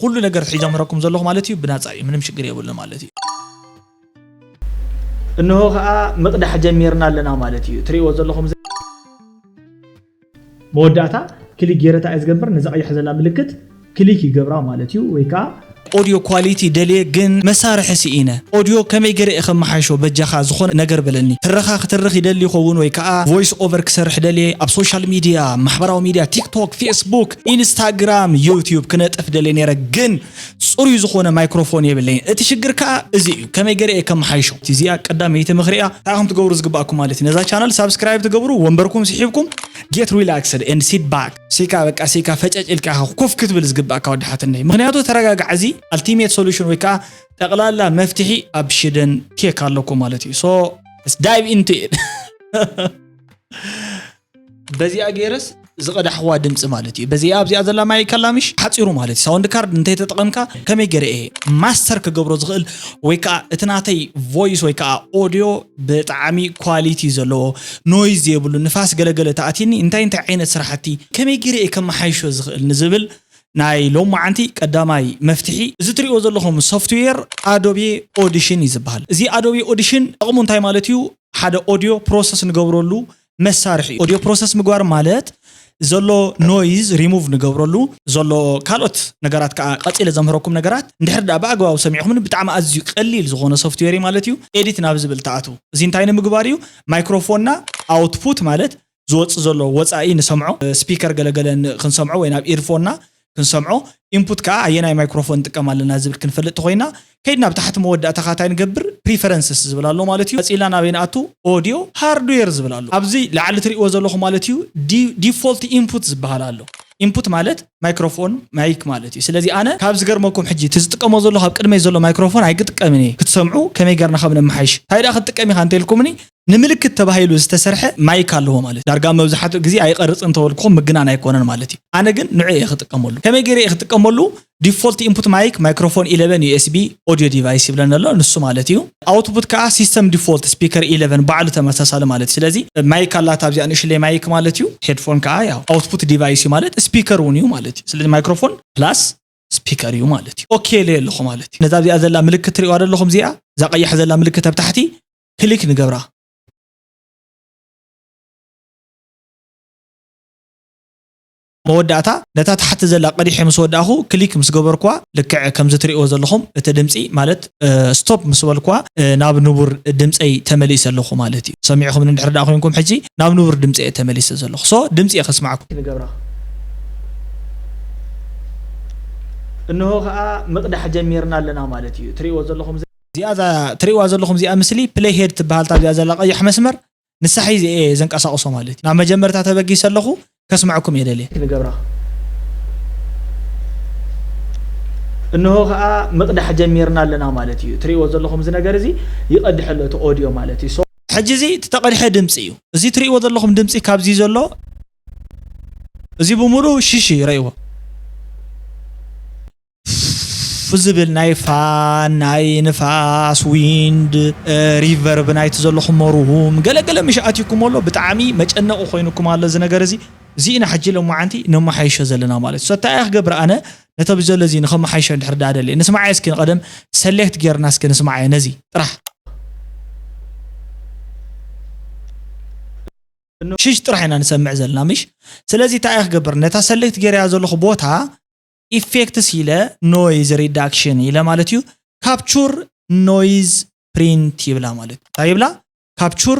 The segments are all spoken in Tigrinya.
ኩሉ ነገር ሒዞ ኣምህረኩም ዘለኹ ማለት እዩ ብናጻ እዩ ምንም ሽግር የብሉን ማለት እዩ። እንሆ ከኣ ምቅዳሕ ጀሚርና ኣለና ማለት እዩ ትሪእዎ ዘለኹም እዚ። መወዳእታ ክሊክ ጌረ ታይ እየ ዝገብር ነዛ ቀያሕ ዘላ ምልክት ክሊክ ይገብራ ማለት እዩ ወይ ከኣ። ኦድዮ ኳሊቲ ደልየ ግን መሳርሒ ስኢነ ኦድዮ ከመይ ገረ እየ ከመሓይሾ በጃኻ ዝኾነ ነገር በለኒ ትረኻ ክትርኽ ይደሊ ይኸውን ወይ ከኣ ቮይስ ኦቨር ክሰርሕ ደልየ ኣብ ሶሻል ሚድያ ማሕበራዊ ሚድያ ቲክቶክ ፌስቡክ ኢንስታግራም ዩቲዩብ ክነጥፍ ደልየ ነይረ ግን ፅሩይ ዝኾነ ማይክሮፎን የብለይን እቲ ሽግር ከዓ እዚ እዩ ከመይ ገረ እየ ከመሓይሾ እዚኣ ቀዳመይቲ ምኽሪ እያ እንታይ ከም ትገብሩ ዝግባኣኩም ማለት እዩ ነዛ ቻናል ሳብስክራይብ ትገብሩ ወንበርኩም ስሒብኩም ጌት ሪላክስድ ኤንድ ሲት ባክ ሲካ በቃ ሲካ ፈጨጭ ኢልካ ኢኻ ኮፍ ክትብል ዝግባእካ ወዲ ሓትነይ ምክንያቱ ተረጋጋዕ እዚ ኣልቲሜት ሶሉሽን ወይ ከዓ ጠቕላላ መፍትሒ ኣብ ሽደን ቴክ ኣለኩ ማለት እዩ ሶ ዳይቭ ኢንቱ በዚኣ ገይረስ ዝቐዳሕዋ ድምፂ ማለት እዩ በዚኣ ኣብዚኣ ዘላ ማይ ከላምሽ ሓፂሩ ማለት እዩ ሳውንድ ካርድ እንተይተጠቐምካ ከመይ ገይረ እየ ማስተር ክገብሮ ዝኽእል ወይ ከዓ እቲ ናተይ ቮይስ ወይ ከዓ ኦዲዮ ብጣዕሚ ኳሊቲ ዘለዎ ኖይዝ ዘይብሉ ንፋስ ገለገለ ተኣትኒ እንታይ እንታይ ዓይነት ስራሕቲ ከመይ ገይረ እየ ከመሓይሾ ዝኽእል ንዝብል ናይ ሎም መዓንቲ ቀዳማይ መፍትሒ እዚ ትሪኦ ዘለኹም ሶፍትዌር ኣዶቤ ኦዲሽን እዩ ዝበሃል እዚ ኣዶቤ ኦዲሽን ጠቕሙ እንታይ ማለት እዩ ሓደ ኦዲዮ ፕሮሰስ ንገብረሉ መሳርሒ እዩ። ኦድዮ ፕሮሰስ ምግባር ማለት ዘሎ ኖይዝ ሪሙቭ ንገብረሉ ዘሎ ካልኦት ነገራት ከኣ ቀጺለ ዘምህረኩም ነገራት እንድሕር ደኣ ብኣግባቡ ሰሚዕኩምኒ ብጣዕሚ ኣዝዩ ቀሊል ዝኾነ ሶፍትዌር እዩ ማለት እዩ። ኤዲት ናብ ዝብል ትኣትው። እዚ እንታይ ንምግባር እዩ ማይክሮፎንና ኣውትፑት ማለት ዝወጽእ ዘሎ ወጻኢ ንሰምዖ ስፒከር ገለ ገለ ክንሰምዖ ወይ ናብ ኢርፎንና ክንሰምዖ ኢንፑት ከኣ ኣየናይ ማይክሮፎን ንጥቀም ኣለና ዝብል ክንፈልጥ ተኾይና ከይድ ናብ ታሕቲ መወዳእታ ከኣ ታይ ንገብር ፕሪፈረንስስ ዝብል ኣሎ ማለት እዩ ቀጺልና ናበይ ንኣቱ ኦድዮ ሃርድዌር ዝብል ኣሎ ኣብዚ ላዕሊ ትሪእዎ ዘለኹም ማለት እዩ ዲፎልት ኢንፑት ዝብሃል ኣሎ ኢንፑት ማለት ማይክሮፎን ማይክ ማለት እዩ ስለዚ ኣነ ካብ ዝገርመኩም ሕጂ እቲ ዝጥቀሞ ዘለኹ ኣብ ቅድመይ ዘሎ ማይክሮፎን ኣይግጥቀምን እየ ክትሰምዑ ከመይ ገርና ከም ነመሓይሽ ታይ ደኣ ክትጥቀም ኢኻ እንተልኩምኒ ንምልክት ተባሂሉ ዝተሰርሐ ማይክ ኣለዎ ማለት እዩ። ዳርጋ መብዛሕትኡ ግዜ ኣይቐርጽን እንተበልኩኹም ምግናን ኣይኮነን ማለት እዩ። ኣነ ግን ንዑኡ እየ ክጥቀመሉ። ከመይ ገይረ እየ ክጥቀመሉ? ዲፎልት ኢንፑት ማይክ ማይክሮፎን ኢለቨን ዩኤስቢ ኦድዮ ዲቫይስ ይብለኒ ኣሎ፣ ንሱ ማለት እዩ። ኣውትፑት ከኣ ሲስተም ዲፎልት ስፒከር ኢለቨን ባዕሉ ተመሳሳሊ ማለት እዩ። ስለዚ ማይክ ኣላታ ኣብዚኣ ንእሽለይ ማይክ ማለት እዩ። ሄድፎን ከኣ ያው ኣውትፑት ዲቫይስ እዩ ማለት ስፒከር እውን እዩ ማለት እዩ። ስለዚ ማይክሮፎን ፕላስ ስፒከር እዩ ማለት እዩ። ኦኬ ኢለዮ ኣለኹ ማለት እዩ። ነዛ ኣብዚኣ ዘላ ምልክት ትርእዩዋ ዶ ኣለኹም እዚኣ? እዛ ቀያሕ ዘላ ምልክት ኣብ ታሕቲ ክሊክ ንገብራ። መወዳእታ ነታ ታሕቲ ዘላ ቀዲሐ ምስ ወዳእኹ ክሊክ ምስ ገበርኩዋ ልክዕ ከምዚ ትሪእዎ ዘለኹም እቲ ድምፂ ማለት ስቶፕ ምስ በልኩዋ ናብ ንቡር ድምፀይ ተመሊሰ ኣለኹ ማለት እዩ። ሰሚዕኹምኒ እንድሕር ደኣ ኮይንኩም ሕጂ ናብ ንቡር ድምፂ እየ ተመሊሰ ዘለኹ። ሶ ድምፂ እየ ከስማዕኩም። ንገብራ። እንሆ ከኣ ምቕዳሕ ጀሚርና ኣለና ማለት እዩ። ትሪእዎ ዘለኹም እዚኣ እዛ ትርእይዋ ዘለኹም እዚኣ ምስሊ ፕለይ ሄድ ትበሃል ኣብዚኣ ዘላ ቀያሕ መስመር ንሳ ሒዘ እየ ዘንቀሳቕሶ ማለት እዩ ናብ መጀመርታ ተበጊሰ ኣለኹ ከስመዐኩም እየ ደልየ ክንገብራ እንሆ ከኣ ምቕዳሕ ጀሚርና ኣለና ማለት እዩ ትርእይዎ ዘለኹም እዚ ነገር እዚ ይቐድሕ ኣሎ እቲ ኦድዮ ማለት እዩ ሕጂ እዚ እቲ ተቐድሐ ድምፂ እዩ እዚ ትርእይዎ ዘለኹም ድምፂ ካብዚ ዘሎ እዚ ብምሉኡ ሽሽ እዩ ረእይዎ ፍ ዝብል ናይ ፋን ናይ ንፋስ ዊንድ ሪቨርብ ናይቲ ዘለኹሞ ሩም ገለ ገለ ምሽ ኣትዩኩሞ ኣሎ ብጣዕሚ መጨነቂ ኮይኑኩም ኣሎ እዚ ነገር እዚ እዚ ኢና ሕጂ ሎማዓንቲ ነማሓይሾ ዘለና ማለት እዩ ሰታይ ኣይ ክገብር ኣነ ነቶም ዘሎ እዚ ንከማሓይሾ እንድሕር ዳኣ ደልየ ንስማዓዮ እስኪ ንቀደም ሰሌክት ጌርና እስኪ ንስማዓዮ ነዚ ጥራሕ ሽሽ ጥራሕ ኢና ንሰምዕ ዘለና ምሽ ስለዚ ታይ ኣይ ክገብር ነታ ሰሌክት ጌረያ ዘለኹ ቦታ ኢፌክትስ ኢለ ኖይዝ ሪዳክሽን ኢለ ማለት እዩ ካፕቹር ኖይዝ ፕሪንት ይብላ ማለት እዩ እንታይ ይብላ ካፕቹር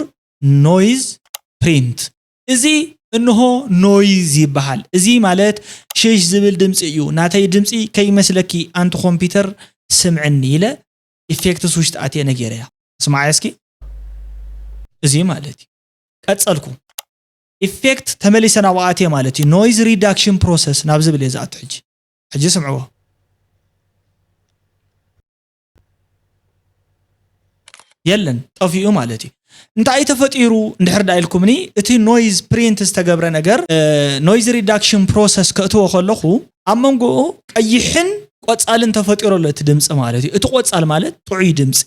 ኖይዝ ፕሪንት እዚ እንሆ ኖይዝ ይበሃል እዚ ማለት ሽሽ ዝብል ድምፂ እዩ ናተይ ድምፂ ከይመስለኪ ኣንቲ ኮምፒውተር ስምዕኒ ኢለ ኢፌክትስ ውሽጢ ኣትየ ነጌረያ ስማዓያ እስኪ እዚ ማለት እዩ ቀፀልኩ ኢፌክት ተመሊሰ ናብኡ ኣትየ ማለት እዩ ኖይዝ ሪዳክሽን ፕሮሰስ ናብ ዝብል እየ ዝኣቱ ሕጂ ሕጂ ስምዕዎ የለን ጠፊኡ ማለት እዩ እንታይ ተፈጢሩ እንድሕር ዳ ኢልኩምኒ እቲ ኖይዝ ፕሪንት ዝተገብረ ነገር ኖይዝ ሪዳክሽን ፕሮሰስ ከእትዎ ከለኹ ኣብ መንጎኡ ቀይሕን ቆፃልን ተፈጢሮ ኣሎ እቲ ድምፂ ማለት እዩ እቲ ቆፃል ማለት ጥዑይ ድምፂ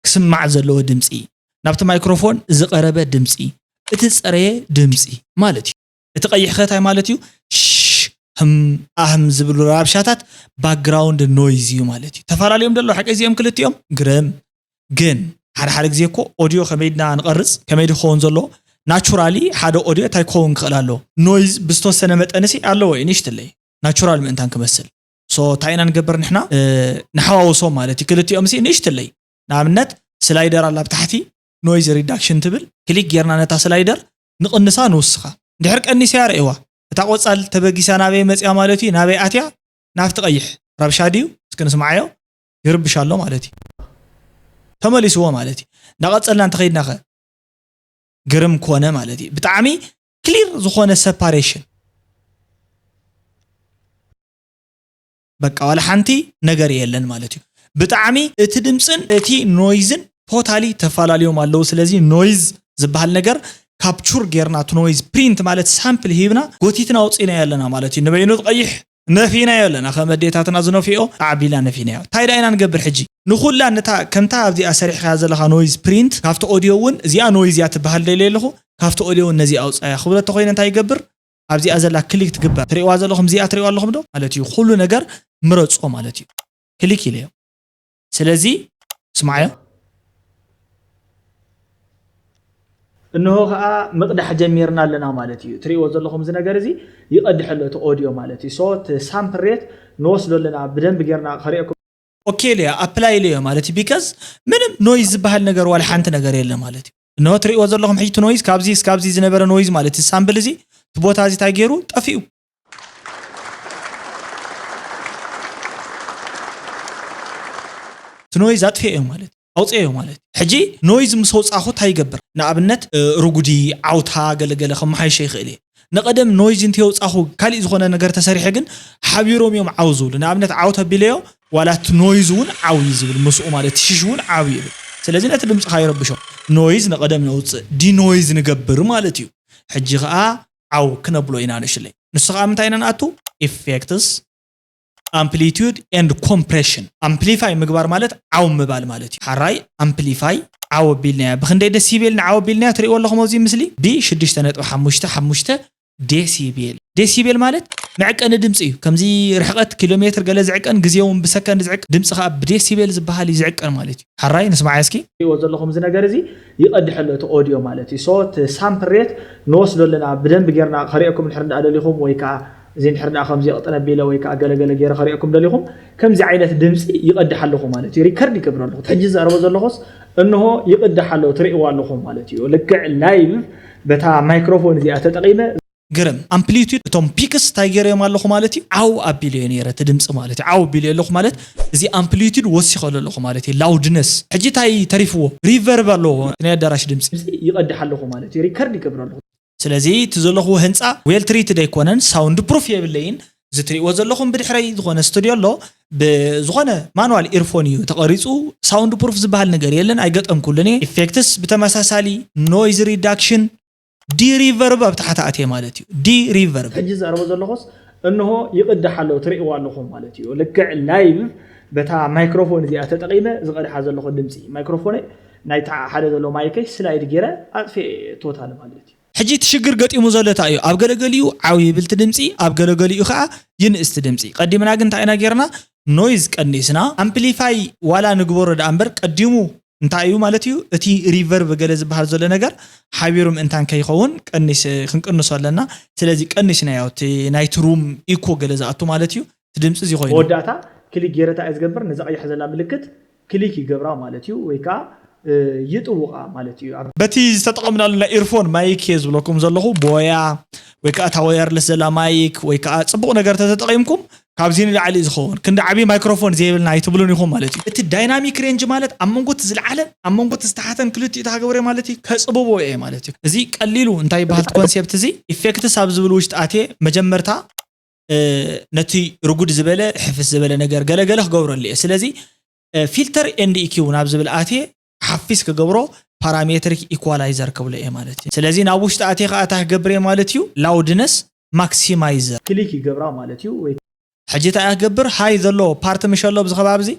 ክስማዕ ዘለዎ ድምጺ፣ ናብቲ ማይክሮፎን ዝቐረበ ድምጺ፣ እቲ ዝጸረየ ድምጺ ማለት እዩ። እቲ ቀይሕ'ኸ ታይ ማለት እዩ? ሽ፣ ህም፣ ኣህም ዝብሉ ራብሻታት፣ ባክግራውንድ ኖይዝ፣ እዩ ማለት እዩ። ተፋላልዮም ዶ ኣለዉ ሓቀይ እዚኦም ክልቲኦም? ግርም! ግን ሓደ ሓደ ግዜ እኮ ኦድዮ ከመይ ድና ንቐርጽ ከመይ ድዩ ክኸውን ዘለዎ? ናቹራሊ ሓደ ኦድዮ ታይ ክኸውን ክኽእል ኣለዎ? ኖይዝ ብዝተወሰነ መጠንሲ ኣለዎ እዩ ንእሽትለይ ናቹራል ምእንታን ክመስል። so ታይ ኢና ንገብር ንሕና ንሓዋውሶም ማለት እዩ ክልቲኦምሲ ንእሽትለይ ንኣብነት ስላይደር ኣላ ኣብታሕቲ ኖይዝ ሪዳክሽን ትብል ክሊክ ጌርና ነታ ስላይደር ንቕንሳ ንውስኻ እንድሕር ቀኒሰያ ርእይዋ እታ ቆፃል ተበጊሳ ናበይ መፅያ ማለት እዩ ናበይ ኣትያ ናብቲ ቀይሕ ረብሻ ድዩ እስኪ ንስምዓዮ ይርብሽ ኣሎ ማለት እዩ ተመሊስዎ ማለት እዩ እንዳቐፀልና እንተኸይድና ከ ግርም ኮነ ማለት እዩ ብጣዕሚ ክሊር ዝኾነ ሰፓሬሽን በቃ ዋላ ሓንቲ ነገር የለን ማለት እዩ ብጣዕሚ እቲ ድምፅን እቲ ኖይዝን ቶታሊ ተፈላለዮም ኣለዉ ስለዚ ኖይዝ ዝበሃል ነገር ካፕቹር ጌርና እቲ ኖይዝ ፕሪንት ማለት ሳምፕል ሂብና ጎቲትና ኣውፂእናዮ ኣለና ማለት እዩ ንበይኑ ቀይሕ ነፊናዮ ኣለና ከም ኣዴታትና ዝነፍይኦ ኣዕቢልና ነፊናዮ እንታይ ደኣ ኢና ንገብር ሕጂ ንኹላ ነታ ከምታ ኣብዚኣ ሰሪሕኻያ ዘለኻ ኖይዝ ፕሪንት ካብቲ ኦድዮ እውን እዚኣ ኖይዝ እያ ትበሃል ደልየ ኣለኹ ካብቲ ኦድዮ እውን ነዚኣ ኣውጻያ ክብሎ እንተኾይነ እንታይ ይገብር ኣብዚኣ ዘላ ክሊክ ትግበር ትሪእዋ ዘለኹም እዚኣ ትሪእዋ ኣለኹም ዶ ማለት እዩ ኩሉ ነገር ምረጾ ማለት እዩ ክሊክ ኢለዮ ስለዚ ስምዓዮ። እንሆ ከኣ ምቕዳሕ ጀሚርና ኣለና ማለት እዩ። ትርእይዎ ዘለኹም እዚ ነገር እዚ ይቐድሕ ኣሎ እቲ ኦድዮ ማለት እዩ። ሶ እቲ ሳምፕል ሬት ንወስዶ ኣለና ብደንቢ ጌርና ከርእየኩም። ኦኬ ኢለዮ ኣፕላይ ኢለዮ ማለት እዩ ቢከዝ ምንም ኖይዝ ዝብሃል ነገር ዋላ ሓንቲ ነገር የለን ማለት እዩ። እንሆ ትርእይዎ ዘለኹም ሕጂ እቲ ኖይዝ ካብዚ እስካብዚ ዝነበረ ኖይዝ ማለት እዚ ሳምፕል እዚ እቲ ቦታ እዚ እንታይ ጌሩ ጠፊኡ። እቲ ኖይዝ ኣጥፊኤዮ ማለት እዩ ኣውፀኤዮ ማለት እዩ ሕጂ ኖይዝ ምስ ኣውፃእኹ ታይ ይገብር ንኣብነት ርጉዲ ዓውታ ገለ ገለ ከመሓይሾ ይኽእል እየ ንቐደም ኖይዝ እንተየውፃእኹ ካሊእ ዝኾነ ነገር ተሰሪሐ ግን ሓቢሮም እዮም ዓው ዝብሉ ንኣብነት ዓው ተቢለዮ ዋላ እቲ ኖይዝ እውን ዓው እዩ ዝብል ምስኡ ማለት እቲ ሽሽ እውን ዓው ይብል ስለዚ ነቲ ድምፅኻ ይረብሾ ኖይዝ ንቐደም ነውፅእ ዲኖይዝ ንገብር ማለት እዩ ሕጂ ኸዓ ዓው ክነብሎ ኢና ንሽለይ ንሱ ከኣ ምንታይ ኢና ንኣቱ effects ኣምፕሊቱድ ኤንድ ኮምፕሬሽን ኣምፕሊፋይ ምግባር ማለት ዓው ምባል ማለት እዩ ሓራይ ኣምፕሊፋይ ዓው ኣቢልናያ ብክንደይ ደሲቤል ንዓው ኣቢልናያ ትሪእዎ ኣለኹም ኣብዚ ምስሊ ብ ሽዱሽተ ነጥቢ ሓሙሽተ ሓሙሽተ ዴሲቤል ዴሲቤል ማለት መዕቀኒ ድምፂ እዩ ከምዚ ርሕቐት ኪሎ ሜትር ገለ ዝዕቀን ግዜ እውን ብሰከንድ ዝዕቀን ድምፂ ከዓ ብዴሲቤል ዝበሃል እዩ ዝዕቀን ማለት እዩ ሓራይ ንስማዓያ እስኪ ትሪእዎ ዘለኹም እዚ ነገር እዚ ይቀድሕ ኣሎ እቲ ኦድዮ ማለት እዩ so እቲ ሳምፕል ሬት ንወስዶ ኣለና ብደንቢ ጌርና ከርእየኩም እንድሕር እንዳ ደሊኹም ወይ ከኣ እዚ እንድሕር እንዳ ከምዚ ቅጥን ኣቢለ ወይ ከኣ ገለ ገለ ጌረ ከርእየኩም ደሊኹም ከምዚ ዓይነት ድምጺ ይቀድሕ ኣለኹ ማለት እዩ ሪከርድ ይገብሮ ኣለኹ እቲ ሕጂ ዝዛረቦ ዘለኹስ እንሆ ይቅዳሕ ኣሎ ትርእይዎ ኣለኹም ማለት እዩ ልክዕ ላይቭ በታ ማይክሮፎን እዚኣ ተጠቂመ ግርም ኣምፕሊቱድ እቶም ፒክስ ታይ ገይረዮም ኣለኹ ማለት እዩ ዓው ኣቢለዮ ነይረ እቲ ድምፂ ማለት እዩ ዓው ኣቢለዮ ኣለኹ ማለት እዚ ኣምፕሊቱድ ወሲኸሉ ኣለኹ ማለት እዩ ላውድነስ ሕጂ ታይ ተሪፍዎ ሪቨርብ ኣለዎ እቲ ናይ ኣዳራሽ ድምፂ ይቀድሕ ኣለኹ ማለት እዩ ሪከርድ ይገብሮ ኣለኹ። ስለዚ እቲ ዘለኽዎ ህንፃ ዌል ትሪትድ ኣይኮነን ሳውንድ ፕሩፍ የብለይን እዚ ትሪእዎ ዘለኹም ብድሕረይ ዝኾነ ስትድዮ ኣሎ ብዝኾነ ማኑዋል ኢርፎን እዩ ተቀሪፁ ሳውንድ ፕሩፍ ዝብሃል ነገር የለን ኣይገጠምኩሉን እየ ኢፌክትስ ብተመሳሳሊ ኖይዝ ሪዳክሽን ዲ ሪቨርብ ኣብ ታሕቲ ኣትየ ማለት እዩ ዲ ሪቨርብ። ሕጂ ዝዛረቦ ዘለኹስ እንሆ ይቕዳሕ ኣሎ ትርእይዎ ኣለኹም ማለት እዩ ልክዕ ላይቭ በታ ማይክሮፎን እዚኣ ተጠቒመ ዝቐድሓ ዘለኹ ድምጺ ማይክሮፎነይ ናይቲ ኣብ ሓደ ዘሎ ማይከይ ስላይድ ጌረ ኣጥፊኤ እየ ቶታሊ ማለት እዩ። ሕጂ እቲ ሽግር ገጢሙ ዘሎ ታይ እዩ ኣብ ገለገሊኡ ዓው ይብል እቲ ድምጺ ኣብ ገለገሊኡ ከኣ ይንእስ እቲ ድምጺ ቀዲምና ግን ታይ ኢና ጌርና ኖይዝ ቀኒስና ኣምፕሊፋይ ዋላ ንግበሮ ደኣ እምበር ቀዲሙ እንታይ እዩ ማለት እዩ እቲ ሪቨርቭ ገለ ዝበሃል ዘሎ ነገር ሓቢሩ ምእንታን ከይኸውን ቀኒስ ክንቅንሶ ኣለና ስለዚ ቀኒስናዮ እቲ ናይቲ ሩም ኢኮ ገለ ዝኣቱ ማለት እዩ እቲ ድምፂ እዚ ኮይኑ መወዳእታ ክሊክ ጌረታ እየ ዝገብር ነዛ ቀያሕ ዘላ ምልክት ክሊክ ይገብራ ማለት እዩ ወይ ከዓ ይጥውቓ ማለት እዩ ኣብ በቲ ዝተጠቐምናሉ ናይ ኢርፎን ማይክ እየ ዝብለኩም ዘለኹ ቦያ ወይ ከዓ እታ ወየርለስ ዘላ ማይክ ወይ ከዓ ፅቡቕ ነገር ተተጠቒምኩም ካብዚ ንላዕሊ ዝኸውን ክንዲ ዓብዪ ማይክሮፎን ዘይብልና ኣይትብሉን ኢኹም ማለት እዩ። እቲ ዳይናሚክ ሬንጅ ማለት ኣብ መንጎ እቲ ዝልዓለን ኣብ መንጎ እቲ ዝተሓተን ክልቲኡ ተሃገብረ ማለት እዩ ከጽብቦ እየ ማለት እዩ። እዚ ቀሊሉ እንታይ ይበሃል እቲ ኮንሴፕት እዚ ኢፌክትስ ኣብ ዝብል ውሽጢ ኣትየ መጀመርታ ነቲ ርጉድ ዝበለ ሕፍስ ዝበለ ነገር ገለ ገለ ክገብረሉ እየ ስለዚ ፊልተር ኤንድ ኢኪው ናብ ዝብል ኣትየ ሓፊስ ክገብሮ ፓራሜትሪክ ኢኳላይዘር ክብሎ እየ ማለት እዩ። ስለዚ ናብ ውሽጢ ኣትየ ከዓ እንታይ ክገብር እየ ማለት እዩ ላውድነስ ማክሲማይዘር። ክሊክ ይገብራ ማለት እዩ ወይ። ሕጂ እንታይ እያ ክገብር ሃይ ዘሎ ፓርቲ ምሸሎ ኣብዚ ከባቢ እዚ።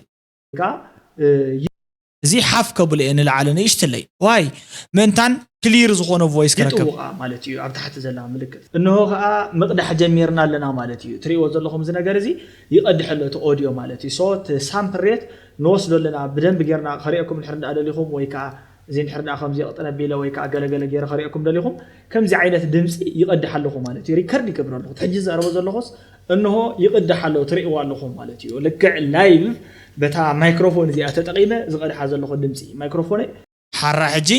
ከዓ። እዚ ሓፍ ከብሎ እየ ንላዕሊ ንእሽትለይ ዋይ ምእንታን ክሊር ዝኾነ ቮይስ ክረክብ። ይጥውቓ ማለት እዩ ኣብ ታሕቲ ዘላ ምልክት። እንሆ ከዓ ምቕዳሕ ጀሚርና ኣለና ማለት እዩ። ትሪእዎ ዘለኹም እዚ ነገር እዚ ይቐድሕ ኣሎ እቲ ኦድዮ ማለት እዩ። ሶ እቲ ሳምፕል ሬት። ንወስዶ ኣለና ብደንቢ ጌርና ከርእየኩም እንድሕር እንዳ ደሊኹም ወይ ከኣ እዚ እንድሕር እንዳ ከምዚ ቅጥን ኣቢለ ወይ ከኣ ገለ ገለ ጌረ ከርእየኩም ደሊኹም ከምዚ ዓይነት ድምጺ ይቀድሕ ኣለኹ ማለት እዩ ሪከርድ ይገብር ኣለኹ እቲ ሕጂ ዝዛረቦ ዘለኹስ እንሆ ይቅዳሕ ኣሎ ትርእይዎ ኣለኹም ማለት እዩ ልክዕ ላይቭ በታ ማይክሮፎን እዚኣ ተጠቂመ ዝቀድሓ ዘለኹ ድምጺ ማይክሮፎነይ ሓራ ሕጂ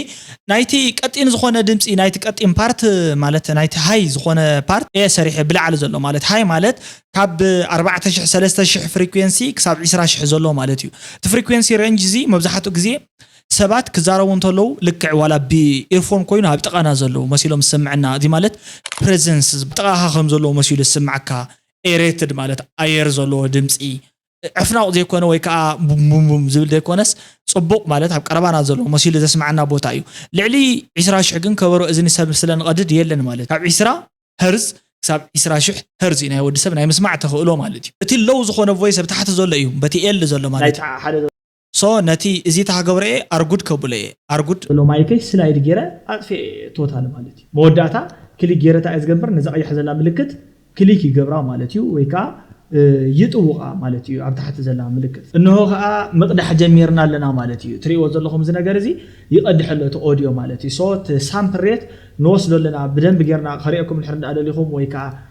ናይቲ ቀጢን ዝኮነ ድምጺ ናይቲ ቀጢን ፓርት ማለት ናይቲ ሃይ ዝኮነ ፓርት እየ ሰሪሐ ብላዕሊ ዘሎ ማለት ሃይ ማለት ካብ ኣርባዕተ ሽሕ ሰለስተ ሽሕ ፍሪኩዌንሲ ክሳብ ዕስራ ሽሕ ዘሎ ማለት እዩ እቲ ፍሪኩዌንሲ ረንጅ እዚ መብዛሕትኡ ግዜ ሰባት ክዛረቡ እንተለዉ ልክዕ ዋላ ብኢርፎን ኮይኑ ኣብ ጥቃና ዘለዉ መሲሎም ዝሰምዐና እዚ ማለት ፕረዘንስ ጥቃካ ከም ዘለዉ መሲሉ ዝስምዓካ ኤሬትድ ማለት ኣየር ዘለዎ ድምጺ ዕፍናቑ ዘይኮነ ወይ ከኣ ቡምቡምቡም ዝብል ዘይኮነስ ጽቡቕ ማለት ኣብ ቀረባና ዘሎ መሲሉ ዘስምዓና ቦታ እዩ። ልዕሊ ዕስራ ሽሕ ግን ከበሮ እዝኒ ሰብ ስለ ንቐድድ የለን ማለት እዩ። ካብ ዕስራ ሀርዝ ክሳብ ዕስራ ሽሕ ሀርዝ እዩ ናይ ወዲ ሰብ ናይ ምስማዕ ተኽእሎ ማለት እዩ። እቲ ሎው ዝኾነ ቮይስ ኣብ ታሕቲ ዘሎ እዩ በቲ ኤል ዘሎ ማለት እዩ። so ነቲ እዚ ታክገብሮ እየ ኣርጉድ ከብሎ እየ ኣርጉድ። ዘሎ ማይከይ ስላይድ ጌረ ኣጥፊኤ እየ ቶታሊ ማለት እዩ መወዳእታ ክሊክ ጌረ ታይ እየ ዝገብር ነዛ ቀያሕ ዘላ ምልክት ክሊክ ይገብራ ማለት እዩ ወይ ከኣ ይጥውቃ ማለት እዩ ኣብ ታሕቲ ዘላ ምልክት። እንሆ ከኣ ምቅዳሕ ጀሚርና ኣለና ማለት እዩ ትሪእዎ ዘለኹም እዚ ነገር እዚ ይቀድሕ ኣሎ እቲ ኦድዮ ማለት እዩ so እቲ ሳምፕል ሬት ንወስዶ ኣለና ብደንቢ ጌርና ከሪኤኩም እንድሕር ደኣ ደሊኹም ወይ ከኣ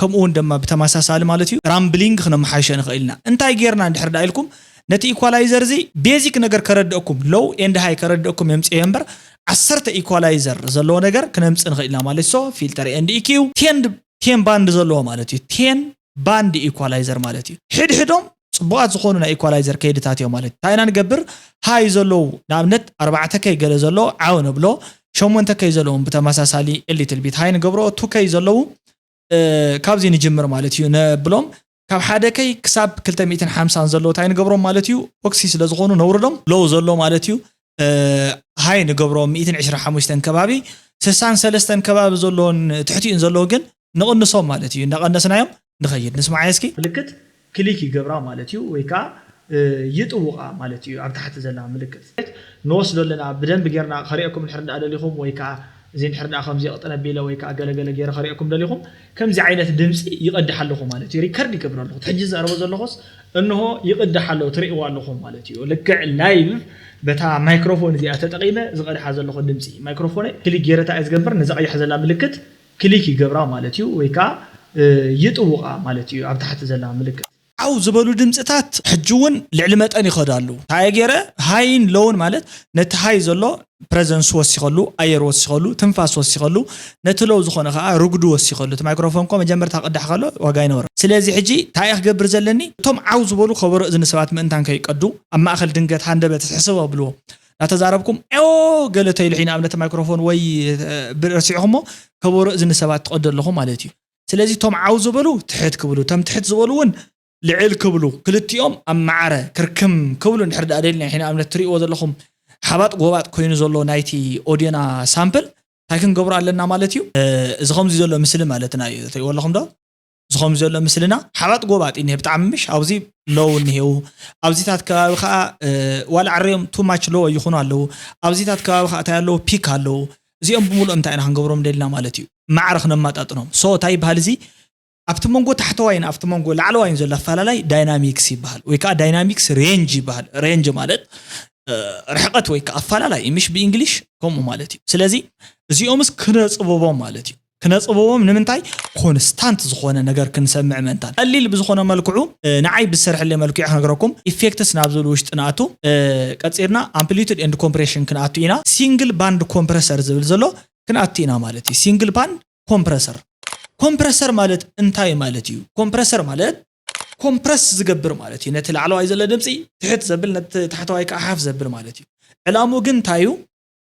ከምኡ ውን ደማ ብተመሳሳሊ ማለት እዩ ራምብሊንግ ክነመሓይሾ ንኽእል ኢና። እንታይ ጌርና እንድሕር ደኣ ኢልኩም ነቲ ኢኳላይዘር እዚ ቤዚክ ነገር ከረደእኩም ሎው ኤንድ ሃይ ከረደእኩም የምጽኤዮ እምበር ዓሰርተ ኢኳላይዘር ዘለዎ ነገር ክነምጽእ ንኽእል ኢና ማለት እዩ። ሶ ፊልተር ኤንድ ኢኪው ቴን ቴን ባንድ ዘለዎ ማለት እዩ። ቴን ባንድ ኢኳላይዘር ማለት እዩ። ሕድሕዶም ጽቡቓት ዝኾኑ ናይ ኢኳላይዘር ከይድታት እዮም ማለት እዩ። እንታይ ኢና ንገብር ሃይ ዘለዉ ንኣብነት ኣርባዕተ ከይ ገለ ዘለዎ ዓው ነብሎ ሸሞንተ ከይ ዘለዎም ብተመሳሳሊ ሊትል ቢት ሃይ ንገብሮ ቱ ከይ ዘለዉ ካብዚ ንጅምር ማለት እዩ ነብሎም ካብ ሓደ ከይ ክሳብ ክልተ ሚእትን ሓምሳን ዘሎ ታይ ንገብሮም ማለት እዩ ኦክሲ ስለ ዝኾኑ ነውርዶም ሎው ዘሎ ማለት እዩ ሃይ ንገብሮም ሚእትን ዕስራ ሓሙሽተን ከባቢ ስሳን ሰለስተን ከባቢ ዘሎን ትሕቲኡን ዘሎ ግን ንቕንሶም ማለት እዩ እንዳቐነስናዮም ንኸይድ ንስማዓየ እስኪ ምልክት ክሊክ ይገብራ ማለት እዩ ወይ ከኣ ይጥውቃ ማለት እዩ ኣብ ታሕቲ ዘላ ምልክት። ንወስዶ ኣለና ብደንቢ ጌርና ከርእየኩም እንድሕር እንዳ ደሊኹም ወይ ከኣ እዚ እንድሕር እንዳ ከምዚ ቅጥን ኣቢለ ወይ ከኣ ገለ ገለ ጌረ ከርእየኩም ደሊኹም ከምዚ ዓይነት ድምጺ ይቅድሕ ኣለኹ ማለት እዩ ሪከርድ ይገብር ኣለኹ እቲ ሕጂ ዝዛረቦ ዘለኹስ እንሆ ይቅድሕ ኣሎ ትርእይዎ ኣለኹም ማለት እዩ ልክዕ ላይቭ በታ ማይክሮፎን እዚኣ ተጠቂመ ዝቀድሓ ዘለኹ ድምጺ ማይክሮፎነይ ክሊክ ጌረ እንታይ እየ ዝገብር ነዛ ቀያሕ ዘላ ምልክት ክሊክ ይገብራ ማለት እዩ ወይ ከኣ ይጥውቓ ማለት እዩ ኣብ ታሕቲ ዘላ ምልክት። ዓው ዝበሉ ድምጽታት ሕጂ ውን ልዕሊ መጠን ይኸዱ ኣለዉ። እንታየ ጌረ? ሃይን ሎውን ማለት ነቲ ሃይ ዘሎ ፕረዘንሱ ወሲኸሉ፣ ኣየር ወሲኸሉ፣ ትንፋስ ወሲኸሉ፣ ነቲ ሎው ዝኾነ ከኣ ርጉዲ ወሲኸሉ። እቲ ማይክሮፎን እኮ መጀመርታ ክቅዳሕ ከሎ ዋጋ ኣይነበሮን። ስለዚ ሕጂ እንታየ ክገብር ዘለኒ? እቶም ዓው ዝበሉ ከበሮ እዝኒ ሰባት ምእንታን ከይቀዱ ኣብ ማእከል ድንገት ሃንደበት ሕስብ ኣብልዎ። ናተዛረብኩም ዔው ገለ ተይሉ ሒን ኣብነት ማይክሮፎን ወይ ብ ረሲዕኹሞ ከበሮ እዝኒ ሰባት ትቀዱ ኣለኹም ማለት እዩ ስለዚ ቶም ዓው ዝበሉ ትሕት ክብሉ ቶም ትሕት ዝበሉ ውን ልዕል ክብሉ ክልቲኦም ኣብ ማዕረ ክርክም ክብሉ እንድሕር ድኣ ደሊና ሒን ኣብነት ትሪእዎ ዘለኹም ሓባጥ ጎባጥ ኮይኑ ዘሎ ናይቲ ኦድዮና ሳምፕል ታይ ክንገብሮ ኣለና ማለት እዩ እዚ ከምዚ ዘሎ ምስሊ ማለትና እዩ ትሪእዎ ኣለኹም ዶ። ዝኸም ዘሎ ምስልና ሓባጥ ጎባጥ እኒሀ ብጣዕሚ ምሽ ኣብዚ ሎው እኒሄው ኣብዚታት ከባቢ ከዓ ዋላ ዕረዮም ቱማች ሎው ይኹኑ ኣለዉ ኣብዚታት ከባቢ ከዓ እንታይ ኣለዉ ፒክ ኣለዉ እዚኦም ብምሉኦም እንታይ ኢና ክንገብሮም ደልና ማለት እዩ ማዕረ ክነማጣጥኖም ሶ እንታይ ይበሃል እዚ ኣብቲ መንጎ ታሕተዋይን ኣብቲ መንጎ ላዕለዋይን ዘሎ ኣፈላላይ ዳይናሚክስ ይበሃል ወይ ከዓ ዳይናሚክስ ሬንጅ ይበሃል ሬንጅ ማለት ርሕቐት ወይ ከዓ ኣፈላላይ ምሽ ብእንግሊሽ ከምኡ ማለት እዩ ስለዚ እዚኦምስ ክነፅብቦም ማለት እዩ ክነጽብቦም ንምንታይ ኮንስታንት ዝኾነ ነገር ክንሰምዕ ምእንታን። ቀሊል ብዝኾነ መልክዑ ንዓይ ብዝሰርሐለይ መልክዑ ክነግረኩም ኢፌክትስ ናብ ዝብል ውሽጢ ንኣቱ ቀጺልና ኣምፕሊቱድ ኤንድ ኮምፕሬሽን ክንኣቱ ኢና ሲንግል ባንድ ኮምፕረሰር ዝብል ዘሎ ክንኣቱ ኢና ማለት እዩ ሲንግል ባንድ ኮምፕረሰር ኮምፕረሰር ማለት እንታይ ማለት እዩ ኮምፕረሰር ማለት ኮምፕረስ ዝገብር ማለት እዩ ነቲ ላዕለዋይ ዘሎ ድምፂ ትሕት ዘብል ነቲ ታሕተዋይ ከዓ ሓፍ ዘብል ማለት እዩ ዕላሙ ግን እንታይ እዩ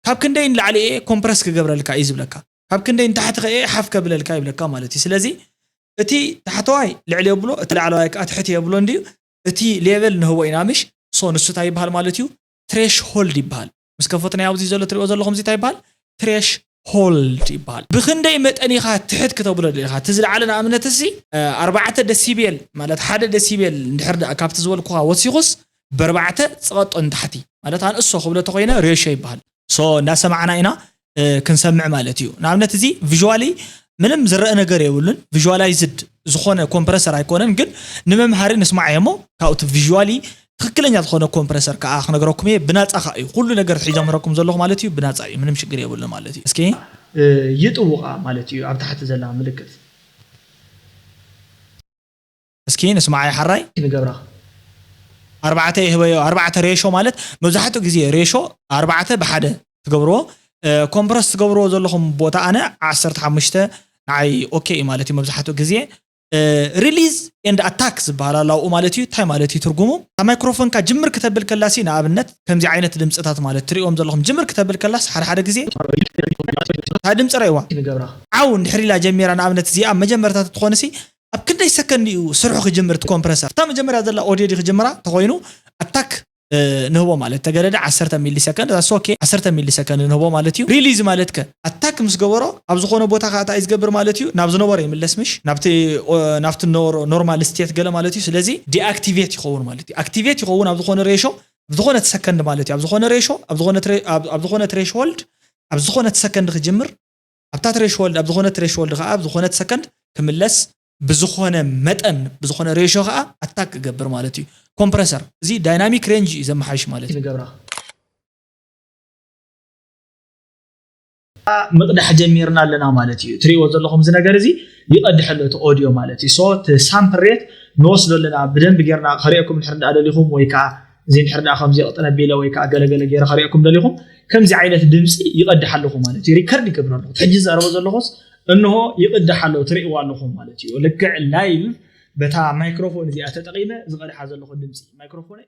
ካብ ክንደይ ንላዕሊ እየ ኮምፕረስ ክገብረልካ እዩ ዝብለካ ካብ ክንደይ ንታሕቲ ከእየ ሓፍ ከብለልካ ይብለካ ማለት እዩ ስለዚ እቲ ታሕተዋይ ልዕሊ የብሎ እቲ ላዕለዋይ ከዓ ትሕቲ የብሎ እንድዩ እቲ ሌቨል ንህቦ ኢና ምሽ ሶ ንሱ እንታይ ይበሃል ማለት እዩ ትሬሽ ሆልድ ይበሃል ምስ ከፈትናዮ ኣብዚ ዘሎ ትሪኦ ዘለኹም እዚ እንታይ ይበሃል ትሬሽ ሆልድ ይበሃል ብክንደይ መጠን ኢኻ ትሕት ክተብሎ ደሊኻ እቲ ዝለዓለ ንኣብነት እዚ ኣርባዕተ ደሲቤል ማለት ሓደ ደሲቤል እንድሕር ደኣ ካብቲ ዝበልኩኻ ወሲኹስ በርባዕተ ጽቐጦ ንታሕቲ ማለት ኣንእሶ ክብሎ ተኮይነ ሬሽዮ ይበሃል ሶ እንዳሰማዕና ኢና ክንሰምዕ ማለት እዩ ንኣብነት እዚ ቪዥዋሊ ምንም ዝረአ ነገር የብሉን ቪዥዋላይዝድ ዝኾነ ኮምፕረሰር ኣይኮነን ግን ንመምሃሪ ንስማዕ እሞ ካብኡ እቲ ቪዥዋሊ ትክክለኛ ዝኾነ ኮምፕረሰር ከዓ ክነግረኩም እየ ብናፃ ከዓ እዩ ኩሉ ነገር ሒዘምረኩም ዘለኹ ማለት እዩ ብናፃ እዩ ምንም ሽግር የብሉ ማለት እዩ እስኪ ይጥውቃ ማለት እዩ ኣብ ታሕቲ ዘላ ምልክት እስኪ ንስማዓዮ ሐራይ። ንገብራ ኣርባዕተ ይህበዮ ኣርባዕተ ሬሾ ማለት መብዛሕትኡ ግዜ ሬሾ ኣርባዕተ ብሓደ ትገብርዎ ኮምፕረስ ትገብርዎ ዘለኹም ቦታ ኣነ ዓሰርተ ሓሙሽተ ንዓይ ኦኬ እዩ ማለት እዩ መብዛሕትኡ ግዜ ሪሊዝ ኤንድ ኣታክ ዝበሃል ኣሎ ኣብኡ ማለት እዩ እንታይ ማለት እዩ ትርጉሙ ካብ ማይክሮፎንካ ጅምር ክተብል ከላሲ ንኣብነት ከምዚ ዓይነት ድምፅታት ማለት ትሪእዎም ዘለኹም ጅምር ክተብል ከላስ ሓደ ሓደ ግዜ እታ ድምፂ ረእዋ ንገብራ ዓው እንድሕር ኢላ ጀሚራ ንኣብነት እዚኣ መጀመርታ ተትኾንሲ ኣብ ክንደይ ሰከንድ እዩ ስርሑ ክጅምር እቲ ኮምፕረሰር እታ መጀመርያ ዘላ ኦድዮ ዲ ክጅምራ ተኮይኑ ኣታክ ንህቦ ማለት ተገደደ ዓሰርተ ሚሊ ሰከንድ እዛ ሶኬ ዓሰርተ ሚሊ ሰከንድ ንህቦ ማለት እዩ ሪሊዝ ማለት ከ ኣታክ ምስ ገበሮ ኣብ ዝኮነ ቦታ ከ እንታይ እዩ ዝገብር ማለት እዩ ናብ ዝነበሮ ይምለስ ምሽ ናብቲ ናብቲ ነበሮ ኖርማል ስቴት ገለ ማለት እዩ ስለዚ ዲኣክቲቬት ይኸውን ማለት እዩ ኣክቲቬት ይኸውን ኣብ ዝኮነ ሬሾ ኣብ ዝኮነት ሰከንድ ማለት እዩ ኣብ ዝኮነ ሬሾ ኣብ ዝኮነት ኣብ ዝኮነት ሬሽሆልድ ኣብ ዝኮነት ሰከንድ ክጅምር ኣብታ ትሬሽሆልድ ኣብ ዝኾነት ትሬሽሆልድ ከኣ ኣብ ዝኾነት ሰከንድ ክምለስ ብዝኾነ መጠን ብዝኾነ ሬሾ ከኣ ኣታክ ክገብር ማለት እዩ ኮምፕረሰር እዚ ዳይናሚክ ሬንጅ እዩ ዘመሓይሽ ማለት እዩ ንገብራ ምቕዳሕ ጀሚርና ኣለና ማለት እዩ ትሪእዎ ዘለኹም እዚ ነገር እዚ ይቐድሕ ኣሎ እቲ ኦድዮ ማለት እዩ ሶ እቲ ሳምፕል ሬት ንወስዶ ኣለና ብደንብ ጌርና ከርእየኩም ንሕር እንዳደሊኹም ወይ ከዓ እዚ እንድሕር ደኣ ከምዚ ቅጥን ኣቢለ ወይ ከዓ ገለገለ ገይረ ከሪኦኩም ደሊኹም ከምዚ ዓይነት ድምፂ ይቐድሕ ኣለኹ ማለት እዩ ሪከርድ ይገብር ኣለኹ ሕጂ ዝዛረቦ ዘለኹስ እንሆ ይቕድሕ ኣለኹ ትርእይዎ ኣለኹም ማለት እዩ ልክዕ ላይቭ በታ ማይክሮፎን እዚኣ ተጠቒመ ዝቐድሓ ዘለኹ ድምፂ ማይክሮፎነይ